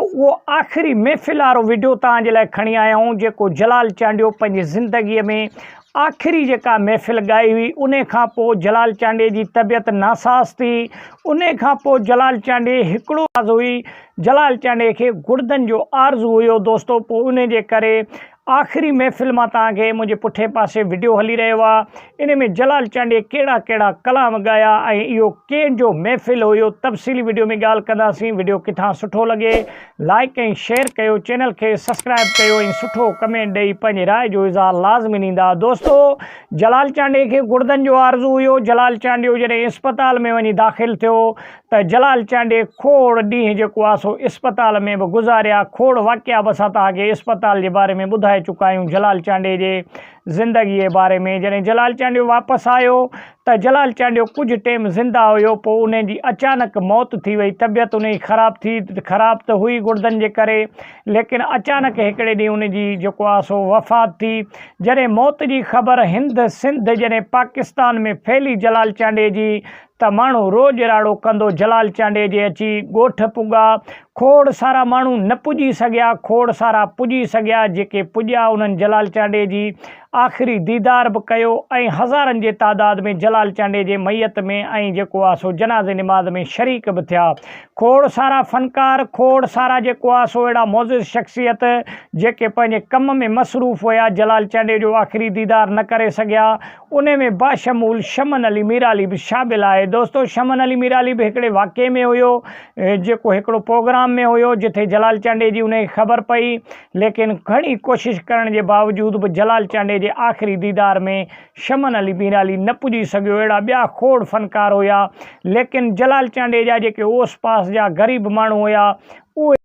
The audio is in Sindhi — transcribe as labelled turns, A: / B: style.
A: اهو آخري محفل وارو وڊيو توهان جي لاء کڻي آيا آهيون جيڪو جلال چانڊيو پنهنجي زندگي ۾ آخري جيڪا محفل ڳائي هئي ان کان پوء جلال چانڊيي جي طبيعت ناساز ٿي ان کان پوء جلال چانڊيي هڪڙو آز هئي جلال چانڊيي کي گڙدن جو آرزو هيو دوستو پوء ان جي ڪري آخري محفل مان توهان کي منهنجي پٺئين پاسي وڊيو هلي رهيو آ ان ۾ جلال چانڊيي ڪهڙا ڪهڙا ڪلام گايا ۽ اهو ڪين جو محفل هيو تفصيلي وڊيو ۾ ڳالهه ڪنداسين وڊيو ڪٿان سٺو لڳي لائيڪ ۽ شيئر ڪيو چينل کي سسڪرائب ڪيو ۽ سٺو ڪمينٽ ڏئي پنهنجي راء جو اظهار لازمي نيندا دوستو جلال چانڊيي کي گڙدن جو آرزو هيو جلال چانڊيو جڏهن اسپتال ۾ وڃي داخل ٿيو ته جلال چانڊيي کوڙ ڏينهن جيڪو آ سو اسپتال ۾ به گذاريا، کوڙ واقعا به اسان توهان کي اسپتال جي باري ۾ ٻڌائي چڪا آهيون جلال چانڊيي جي زندگيء باري ۾ جڏهن جلال چانڊيو واپس آيو ته جلال چانڊيو ڪجهه ٽيم زنده هيو پوء انهي جي اچانڪ موت ٿي وئي طبيعت انهي جي خراب ٿي خراب ته هئي گڙدن جي ڪري ليڪن اچانڪ هڪڙي ڏينهن انهي جي جيڪو آ سو وفات ٿي جڏهن موت جي خبر هند سنڌ جڏهن پاڪستان ۾ ڦهلي جلال چانڊيي جي ته ماڻهو روڄ راڙو ڪندو جلال چانڊيي جي اچي ڳوٺ پڳا کوڙ سارا ماڻهو نه پڄي سگهيا کوڙ سارا پڄي سگهيا جيڪي پڄيا انهن جلال چانڊيي جي آخري ديدار به ڪيو ۽ هزارن جي تعداد ۾ جلال چانڊيي جي ميت ۾ ائين جيڪو آ سو جنازي نماز ۾ شريڪ به ٿيا کوڙ سارا فنڪار کوڙ سارا جيڪو آ سو اهڙا معزز شخصيت جيڪي پنهنجي ڪم ۾ مصروف هيا جلال چانڊيي جو آخري ديدار نه ڪري سگهيا انهي ۾ باشمول شمن علي ميرعلي به شامل آهي. دوستو شمن علي ميرعلي به هڪڙي واقعي ۾ هيو جيڪو هڪڙو پروگرام ۾ هيو جتي جلال چانڊيي جي انهي خبر پئي ليڪن گهڻي ڪوشش ڪرڻ جي باوجود به جلال چانڊيي جي آخري ديدار ۾ شمن علي ميرعلي نه پڄي سگهيو اهڙا ٻيا کوڙ فنڪار هيا ليڪن جلال چانڊيي جا جيڪي اوس پاس جا غريب ماڻهو هيا اهي